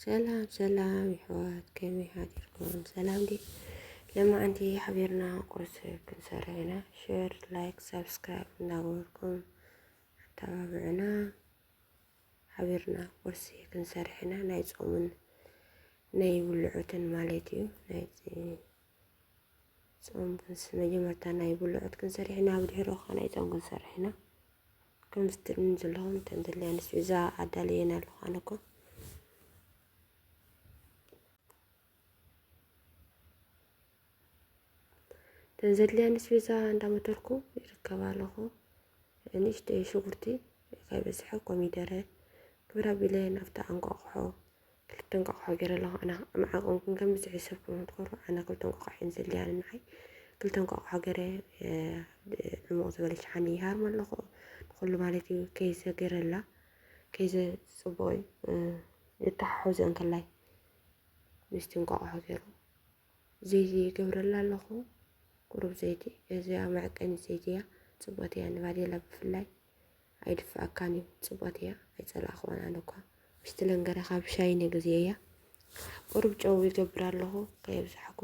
ሰላም ሰላም ይሕዋት ከመይ ሓዲርኩም? ሰላም ዲ ለማዓንቲ ሓቢርና ቁርሲ ክንሰርሕ ኢና። ሼር ላይክ ሰብስክራይብ እንዳገበርኩም ኣተባብዑና ሓቢርና ቁርሲ ክንሰርሕ ኢና። ናይ ፆምን ናይ ውልዑትን ማለት እዩ። ጾም ክንስ መጀመርታ ናይ ብልዑት ክንሰርሕ ኢና፣ ብድሕሪኡ ከዓ ናይ ጾም ክንሰርሕ ኢና። ከምዚ ትርእዩኒ ዘለኹም እተን ዘለያ ንስ እዛ ኣዳልየን ኣለኹ ኣነ እኮ እተን ዘለያ ንስ እዛ እንዳመተርኩ ይርከብ ኣለኹ። ንእሽተይ ሽጉርቲ ከይበዝሐ ኮሚደረ ግብረ ቢለ ናብቲ ኣንቋቑሖ ክልተ እንቋቑሖ ገይረ ኣለኹ ኣነ ኣብ ዓቐንኩም ከም ዝሕሰብኩም ክትኮሩ ኣነ ክልተ እንቋቑሖ እየን ዘድልያኒ ንዓይ ክልተ እንቋቑሖ ገይረ ዕሙቕ ዝበለ ሸሓኒ ይሃርም ኣለኹ ንኹሉ ማለት እዩ ከይዘ ገይረላ ከይዘ ፅቡቕ እዩ ይተሓሓዞ እንከላይ ምስቲ እንቋቑሖ ገይሩ ዘይቲ ይገብረላ ኣለኹ ቁሩብ ዘይቲ እዚኣ መዕቀኒት ዘይቲ እያ ፅብቕቲ እያ ንባዴላ ብፍላይ ኣይድፍኣካን እዩ ፅብቕቲ እያ ኣይፀላእኽዋን ኣነ እኳ ምስቲ ለንገረ ካብ ሻይ ነግዜ እያ ቁሩብ ጨው ይገብር ኣለኹ ከየብዛሕኩ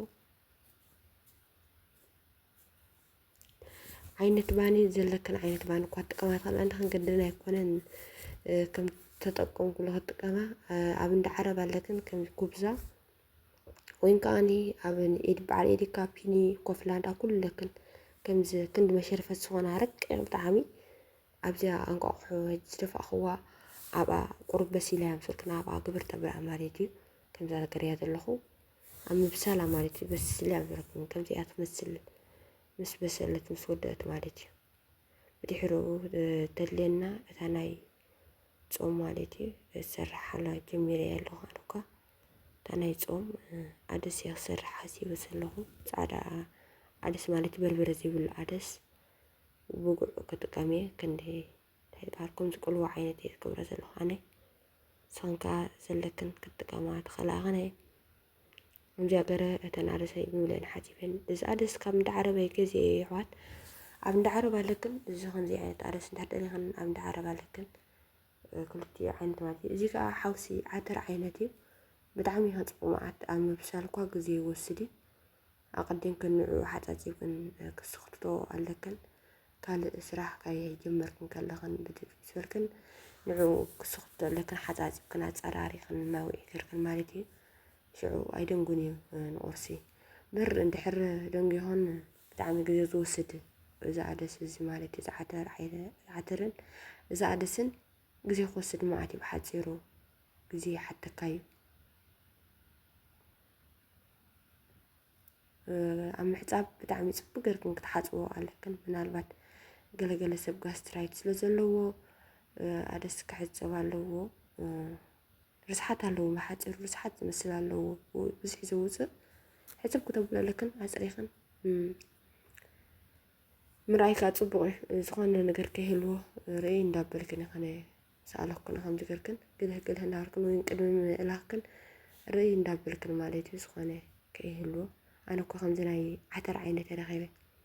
ዓይነት ባኒ ዘለክን ዓይነት ባኒ እኳ ትጥቀማ ትኽእል ኣንድ ክንገድን ኣይኮነን ከም ተጠቀምኩሉ ክጥቀማ ኣብ እንዳ ዓረብ ኣለክን ከም ኩብዛ ወይን ከኣኒ ኣብ ንኢድ በዓል ኤዲካ ፒኒ ኮፍላንዳ ኩለክን ከምዚ ክንዲ መሸርፈት ዝኾነ ሃረቅ ብጣዕሚ ኣብዚኣ ኣንቋቑሖ ዝደፋእኽዋ ኣብኣ ቁሩብ በሲላ እያ ምስልክና ኣብኣ ግብር ተብልዓ ማለት እዩ ከምዛ ነገር እያ ዘለኹ ኣብ ምብሳላ ማለት እዩ በስሊ ኣብ ዘለኩም ከምዚኣ ትመስል ምስ በሰለት ምስ ወደአት ማለት እዩ ብድሕርኡ ተድልየና እታ ናይ ጾም ማለት እዩ ዝሰርሓላ ጀሚረ ኣለኹ ኣነኳ እታ ናይ ጾም ዓደስ እያ ክሰርሕ ሓሲበ ዘለኹ ጻዕዳ ዓደስ ማለት በርበረ ዘይብሉ ዓደስ ብጉዕ ክጥቀም እየ ክንዲ እንታይ በሃልኩም ዝቅልዎ ዓይነት እየ ዝገብረ ዘለኹ ኣነ ንስኽን ከዓ ዘለክን ክጥቀማ ትኽእላ ኣኸነ ከምዚኣ ገረ እተን ዓደሰይ ብብለን ሓፂበን እዚ ዓደስ ካብ እንዳ ዓረበ ገዜ እየ ይሕዋት ኣብ እንዳ ዓረብ ኣለክን እዚ ከምዚ ዓይነት ዓደስ እንድሕር ደሊኽን ኣብ እንዳ ዓረብ ኣለክን ክልቲኡ ዓይነት ማለት እዩ። እዚ ከዓ ሓውሲ ዓተር ዓይነት እዩ። ብጣዕሚ እዩ ከፅቕ መዓት ኣብ ምብሳል እኳ ግዜ ይወስድ እዩ። ኣቐዲምክን ንዕኡ ሓፃፂብክን ክስኽትቶ ኣለክን ካልእ ስራሕ ከይጀመርክን ከለኽን ብድፍኢት በልክን ንዕኡ ክስኽትቶ ኣለክን ሓፃፂብክን ኣፀራሪኽን እናውዒ ገርክን ማለት እዩ። ሽዑ ኣይደንጉን እዩ ንቑርሲ ብር እንድሕር ደንጉዮኽን ብጣዕሚ ግዜ ዝወስድ እዚ ኣደስ እዚ ማለት እዩ ዝዓተር ዓይነ ዝዓተርን እዚ ኣደስን ግዜ ክወስድ መዓት እዩ ብሓፂሩ ግዜ ይሓተካ እዩ ኣብ ምሕፃብ ብጣዕሚ ፅቡቅ ገርክን ክትሓፅቦ ኣለክን ምናልባት ገለገለ ሰብ ጋስትራይት ስለ ዘለዎ ኣደስ ክሕፀብ ኣለዎ ርስሓት ኣለዎም ብሓጺሩ ርስሓት ዝመስል ኣለዎ ብዝሒ ዘውጽእ ሕጽብ ክተብለለክን ኣጽሪኽን ምርኣይ ከዓ ጽቡቕ እዩ ዝኾነ ነገር ከይህልዎ ርእይ እንዳበልክን ይኸነ ሰኣለኩን ከም ዝገርክን ግልህ ግልህ እንዳበልክን ወይም ቅድሚ ምእላኽክን ርእይ እንዳበልክን ማለት እዩ ዝኾነ ከይህልዎ ኣነ እኮ ከምዚ ናይ ዓተር ዓይነት ረኺበ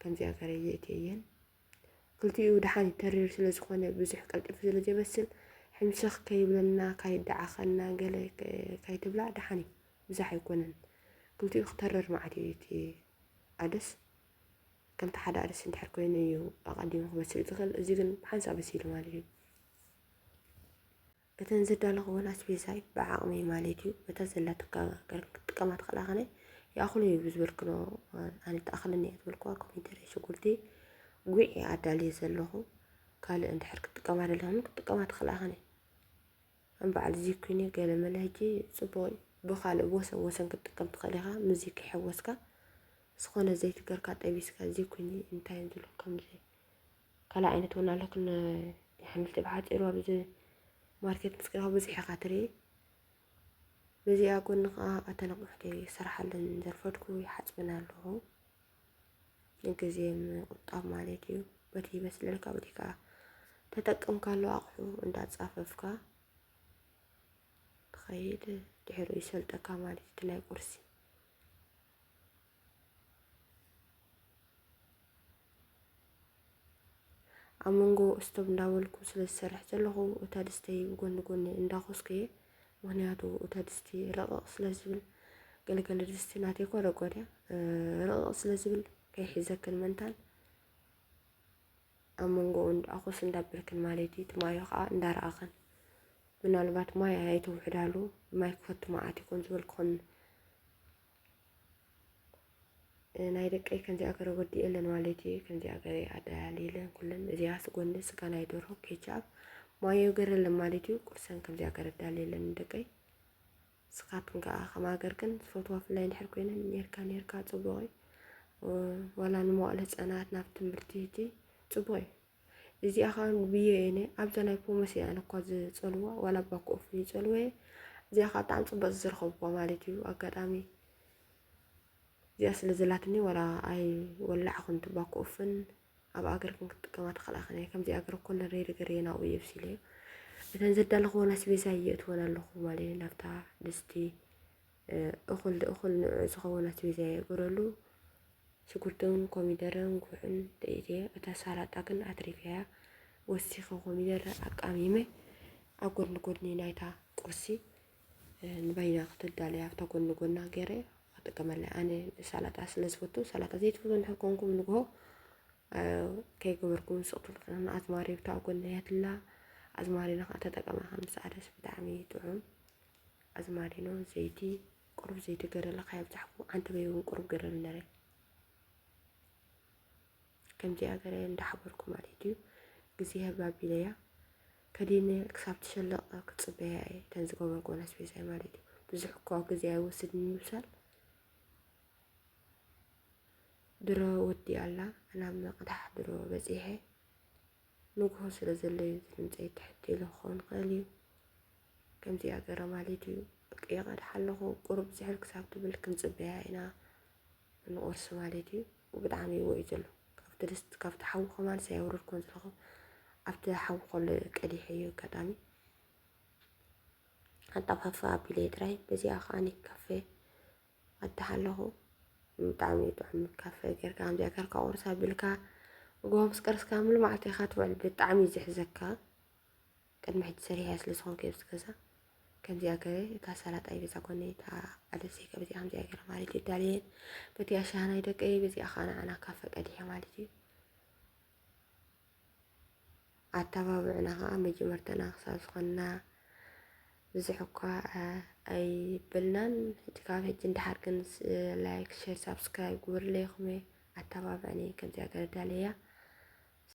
ከምዚኣ ተረድኤት የየን ክልቲኡ ደሓን ተሪር ስለ ዝኾነ ብዙሕ ቀልጢፉ ስለ ዘይበስል ሕምስኽ ከይብለና ካይደዓኸና ገለ ካይትብላ ደሓን እዩ ብዛሕ ኣይኮነን ክልቲኡ ክተርር መዓት እዩ እቲ ኣደስ ከምቲ ሓደ ኣደስ እንድሕር ኮይኑ እዩ ኣቐዲሙ ክበስል ዝኽእል እዚ ግን ብሓንሳ በሲሉ ማለት እዩ እተን ዝዳለኽወን ኣስቤዛይ ብዓቕመይ ማለት እዩ በታ ዘላትካ ገር ክትጥቀማ ትኽእላ ከነ ይኣኽሉ እዩ ብዝበልክኖ ኣነ ተኣኽለኒ እያ ዝበልክዋ ኮሚደረ ሽጉርቲ ጉዕ እየ ኣዳልየ ዘለኹ ካልእ እንድሕር ክትጥቀማ ደለኹም ክትጥቀማ ትኽእላ ከነ ከም በዓል እዚ ኩኒ ገለ መለ ሕጂ ጽቡቕ እዩ ብኻልእ ወሰን ወሰን ክትጥቀም ትኽእል ኢኻ ምዚ ክሕወስካ ዝኾነ ዘይትገርካ ጠቢስካ እዚ ኩኒ እንታይ ዝብሎ ከምዚ ካልእ ዓይነት እውን ኣሎ ክን የሓምልቲ ብሓጺሩ ኣብዚ ማርኬት ምስ ከይድካ ብዙሕ ኢኻ ትርኢ በዚኣ ጎኒ ከዓ ኣተን ኣቑሑት ይሰራሓለን ዘርፈድኩ ይሓፅበን ኣለኹ ንግዜ ምቁጣብ ማለት እዩ በቲ ይበስለልካ በቲ ከዓ ተጠቅም ካሎ ኣቑሑ እንዳፃፈፍካ ትኸይድ ድሕሪኡ ይሰልጠካ ማለት እቲ ናይ ቁርሲ ኣብ መንጎ ስቶብ እንዳበልኩ ስለ ዝሰርሕ ዘለኹ እታ ድስተይ ጎኒ ጎኒ እንዳኾስኩ እየ ምክንያቱ እታ ድስቲ ረቕቕ ስለ ዝብል ገለገለ ድስቲ ናተይ ኮ ረቆድ እያ ረቕቕ ስለ ዝብል ከይሒዘክን መንታን ኣብ መንጎኡ እንዳ ኣኹስ እንዳ ብርክን ማለት እዩ። እቲ ማዮ ከኣ እንዳ ረኣኸን። ምናልባት ማይ ኣያይተውሕዳሉ ማይ ክፈቱ መዓት ይኾን ዝበል ክኾን ናይ ደቀይ ከምዚኣ ገረ ወዲኤለን ማለት እዩ ከምዚኣ ገረ ኣደላልየለን ኩለን እዚኣ ስጎኒ ስጋ ናይ ደርሆ ኬቻብ ማዮ ገረለን ማለት እዩ ቁርሰን ከምዚኣ ገረ ዳልየለን ደቀይ ንስኻትክን ከኣ ከም ሃገርክን ዝፈትዋ ፍላይ እንድሕር ኮይነን ኔርካ ኔርካ ጽቡቕ እዩ። ዋላ ንመዋእለ ህጻናት ናብ ትምህርቲ እቲ ጽቡቕ እዩ። እዚኣ ከዓ ብዮ እየ ነ ኣብዛ ናይ ፖመስ እየ ኣነ እኳ ዝጸልዋ ዋላ እባ ኮፍ ይጸልወ እየ እዚኣ ከዓ ብጣዕሚ ጽቡቅ ዝረኸብኳ ማለት እዩ ኣጋጣሚ እዚኣ ስለ ዘላትኒ ዋላ ኣይ ወላዕኹን ትባኮ ኦፍን ኣብ ኣገርክን ክትጥቀማ ተኸላኸን እየ ከምዚ ኣገር እኮ ንረይ ነገር እየ ናብኡ የብሲለ እዩ እተን ዘዳለኽዎን ኣስቤዛ ይእትወን ኣለኹ ማለት ናብታ ድስቲ እኹል እኹል ንዑ ዝኸውን ኣስቤዛ የእግረሉ ሽጉርትን ኮሚደረን ጉዕን ደኢት እየ እታ ሳላጣ ግን ኣትሪፍያ እያ ወሲኸ ኮሚደረ ኣቃሚመ ኣብ ጎድኒ ጎድኒ ናይታ ቁርሲ ንበይና ክትዳለይ ኣብታ ጎኒ ጎና ገይረ ክጥቀመላ ኣነ ሰላጣ ስለ ዝፈቱ ሰላጣ ዘይትፈቱ እንድሕር ኮንኩም ንግሆ ከይገበርኩም ስቕ ትብልክና ኣዝማሪ ብታ ጎኒ ያትላ ኣዝማሪኖ ከዓ ተጠቀማ ከም ዝሰዓደስ ብጣዕሚ ጥዑም ኣዝማሪኖ ዘይቲ ቁሩብ ዘይቲ ገረለ ከየብዛሕኩ ዓንተበይ እውን ቁሩብ ገረለ ነረ ከምዚኣ ገረ እንዳሓበርኩ ማለት እዩ እግዚኣብ ኣቢለያ ከዲነ ክሳብ ትሸለቕ ክፅበያ እየ እተን ዝጎመጎን ኣስቤዛይ ማለት እዩ ብዙሕ እኮ ግዜ ኣይወስድ ንምብሳል ድሮ ወዲ ኣላ ናብ መቕዳሕ ድሮ በፂሐ ንግሆ ስለ ዘሎ እዩ ዝድምፀይ ትሕት ኢሉ ክኸውን ክእል እዩ ከምዚኣ ገረ ማለት እዩ ይቐድሓ ኣለኹ ቁሩብ ዝሕል ክሳብ ትብል ክንፅበያ ኢና ንቑርሲ ማለት እዩ ብጣዕሚ ይዎ እዩ ዘሎ ካብቲ ድስት ካብቲ ሓዊ ከማን ሰያውረድኮን ዘለኹ ኣብቲ ሓዊ ኮሎ ቀዲሐ እዩ ኣጋጣሚ ኣጣፋፋ ኣቢለ ጥራይ በዚኣ ከዓኒ ካፌ ኣታሕ ኣለኹ ብጣዕሚ እዩ ጥዑም ካፌ ጌርካ ከምዚኣ ጌርካ ቁርስ ኣቢልካ ምግቦ ምስ ቀርስካ ሙሉ መዓልቲ ኢኻ ትውዕል ብጣዕሚ እዩ ዝሕዘካ ቅድሚ ሕጂ ሰሪሐያ ስለ ዝኾንኩ ኣብዚ ገዛ ከምዚኣ ገረ እታ ሰላጣይ በዛ ጎኒ እታ ኣደሰይ ከ በዚኣ ከምዚኣ ገረ ማለት እዩ ዳልየን በቲ ኣሻሃ ናይ ደቀይ በዚኣ ከዓ ንዓና ካብ ፈቀድሐ ማለት እዩ ኣተባብዕና ከዓ መጀመርተና ክሳብ ዝኾንና ብዙሕ እኳ ኣይበልናን ሕጂ ካብ ሕጂ እንዳሓር ግን ላይክ ሸር ሳብስክራይብ ግበርለይኹም ኣተባብዕኒ ከምዚኣ ገረ ዳልየያ